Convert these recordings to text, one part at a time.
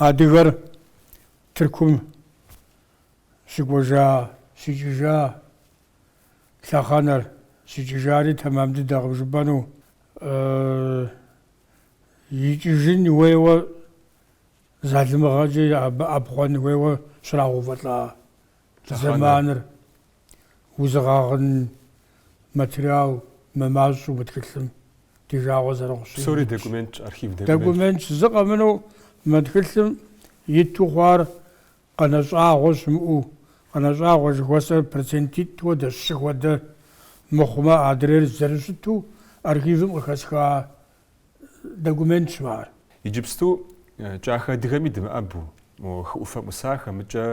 Адыгэр Тыркум щыкӏуэжа, щикӏыжа, лъэхъэнэр щикӏыжари тэмэм дыдэкъым жыпӏэну икӏыжын уейуэ залымыгъэкӏэ абы ӏэпхъуэн уейуэ щрагъэувэлӏа зэманыр Узыгъэгъын материал мымащӏэу мы тхылъым ди жагъуэ зэрыхъущи. Псори документщ, архив документщ. Документщ, зы къэмынэу мы тхылъым иту хъуар къэнэщӏагъуэ щымыӏэу, къэнэщӏагъуэ жыхуэсӏэр процентитӏ хуэдэщ, щы хуэдэ мыхъумэ адрейр зэрыщыту архивым къыхэсха документщ ар. Иджыпсту кӏахэ адыгэми дымыӏэбу, мо хы ӏуфэм ӏусахэмикӏэ,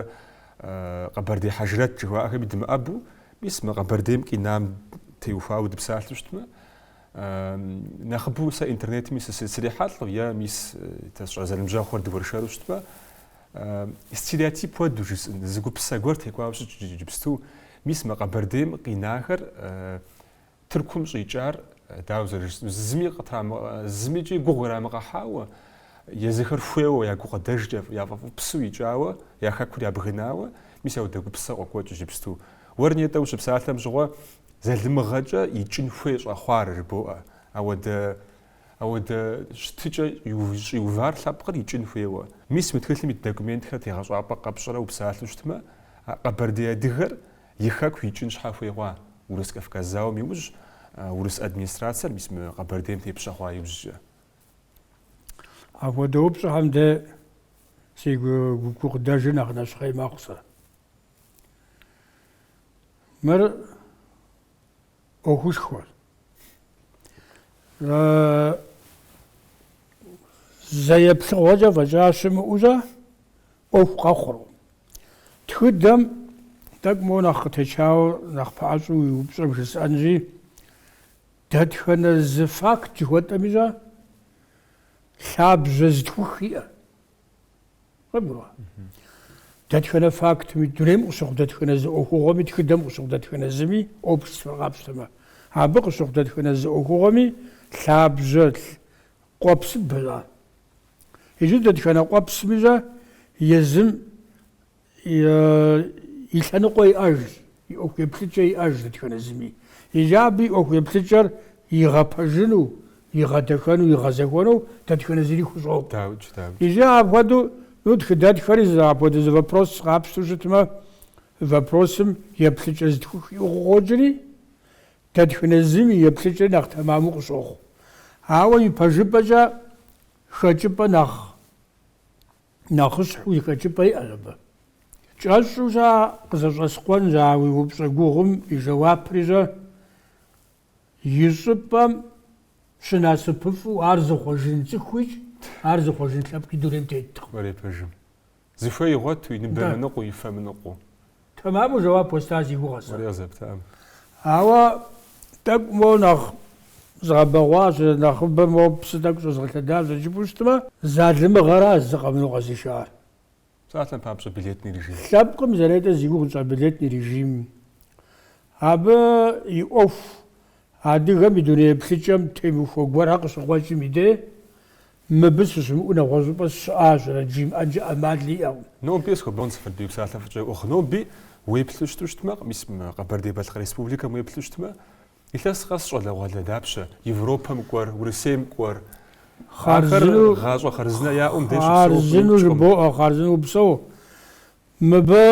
къэбэрдей хьэжрэт жыхуаӏэхэми дымыӏэбу, мис мы Къэбэрдейм къинам теухуауэ дыпсалъэу щытмэ, нэхъыбэу сэ интернетми срихьэлӏэу е мис тэ сщӏа зэныбжьэгъухэр дыуэршэру щытмэ, стереотип хуэду жысӏын, зы гупсысэ гуэр текӏуауэ щытщ иджыпсту, мис мы Къэбэрдейм къинахэр Тыркум щӏикӏар дауэ зэрыжысӏэну, зыми зымикӏи гугъу ирамыгъэхьауэ, езыхэр хуейуэ, я гукъыдэжкӏэ яфӏэфӏыпсу икӏауэ, я хэкур ябгынауэ, мис ауэдэ гупсысэ къокӏуэкӏ иджыпсту. Уэр нетӏэ ущыпсалъэм щыгъуэ залымыгъэкӏэ икӏын хуей щӏэхъуар жыбоӏэ, ауэдэ ауэдэ щытыкӏэ щӏиувар лъэпкъыр икӏын хуейуэ. Мис уи тхылъым ит документхэр тегъэщӏапӏэ къэпщӏрэ упсалъэу щытмэ, къэбэрдей адыгэр И хэку икӏын щхьэ хуей хъуа? Урыс-Кавказ зауэм иужь урыс администрацэр мис мы Къэбэрдейм тепщэ хъуа иужькӏэ? Апхуэдэ упщӏэхэм дэ си гукъыдэжыр нэхъ нэщхъей мэхъу сэ. Мыр ӏуэхушхуэ. Зэ еплъыгъуэкӏэ фӏэкӏа щымыӏущӏэ, ӏуэху къэхъуру. Тхыдэм тӏэкӏу моуэ нэхъ къытечауэ нэхъ пэӏэщӏу уи упщӏэм жысӏэнщи, дэтхэнэ зы факт жыхуэтӏэмикӏэ лъабжьэ зытхух иӏэ? Къыбгурыӏуа? Дэтхэнэ фактми, дунейм къыщыхъу дэтхэнэ зы ӏуэхугъуэми, тхыдэм къыщыхъу дэтхэнэ зыми, обществэр къапщтэмэ, абы къыщыхъу дэтхэнэ зы ӏуэхугъуэми лъабжьэ Къуэпсыбэ жаӏэ. Иджы дэтхэнэ къуэпсымикӏэ езым и лъэныкъуэ иӏэжщ, и ӏуэху еплъыкӏэ иӏэжщ дэтхэнэ зыми. Иджы абы и ӏуэху еплъыкӏэр игъэпэжыну, игъэдэхэну, игъэзэхуэну дэтхэнэ зыри хущӏокъу. Даукӏ, даукӏ. Иджы апхуэдэу, ну, тхыдэтхэри зы апхуэдэ зы вопрос къапщтэу щытмэ, вопросым еплъыкӏэ зытхух иӏу къыхокӏри, Дэтхэнэ зым и еплъыкӏэр нэхъ тэмэму къыщохъу, ауэ ипэжыпӏэкӏэ хэкӏыпӏэ нэхъыщхьэу зы хэкӏыпӏэ иӏэщ абы. Кӏэщӏу щӏа къызэщӏэскъуэнщ а уи упщӏэ гугъум и жэуапри щӏэ, И щӏыпӏэм щынасыпыфӏу ар зыхъуэжын цӏыхуикӏ, ар зыхъуэжын лъэпкъи дунейм теткъым. Кӏуэрей пэжым. Зыхуей игъуэту, и ныбэ мыныкъуэу, и фэ мыныкъуэу. Тэмэму жэуап уэста си гугъэ сэ. Уэрей къызэптам. Ауэ тӏэкӏу моуэ нэхъ згъэбэгъуащ, нэхъыбэ моуэ псы тӏэкӏу щӏэзгъэлъэдащ зэрыжыпӏэу щытмэ. Залымыгъэра зы къэмынэу къэзышар. Псалъэм папщӏэ, билетный режим. Лъэпкъым зэ нетӏэ зи гугъу тщӏа билетный режим. Абы и ӏуэху адыгэм и дуней еплъыкӏэм темыхуэ гуэрхэр къыщыкъуэкӏым и деж Мыбы сыщымыӏэу нэгъуэщӏыпӏэ сыщыӏащэрэт жимыӏэнкӏэ ӏэмал иӏэу. Нобэ схуэбон сыфэддуей псалъэ фӏыкӏэ ӏуэху нобэ уеплъу щыту щытмэ, мис мы Къэбэрдей-Балъкъэр Республикэм уеплъу щытмэ, илъэс къэс щӏалэгъуалэ дапщэ, Европэм кӏуэр, Урысейм кӏуэр, ахэр хъарзынэу, гъащӏэ хъарзынэ яӏэу мыбдеж щыпсэууэ хъуну хъарзынэу ипщӏкъым. жыбоӏэ, хъарзынэу упсэу. Мыбы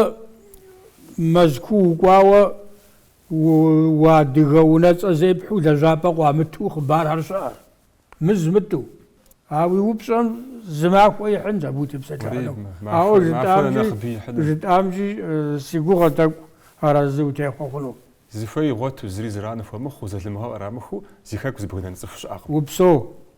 Мэзкуу укӏуауэ у уадыгэ унэцӏэ зепхьэу лэжьапӏэ къуамыту хъыбархэр щыӏэр. Мы зымытӏу. А уи упщӏэм зы махуэ ихьынщ абы утепсэлъыхьыну. Ауэ жытӏамкӏи, жытӏамкӏи си гугъэ тӏэкӏу арэзы утехъуэ хъуну. Зыхуей игъуэту, зыри зэран хуэмыхъуу, залымыгъэ кърамыхыу зи хэку зыбгынэн цӏыху щыӏэкъым. Упсэу,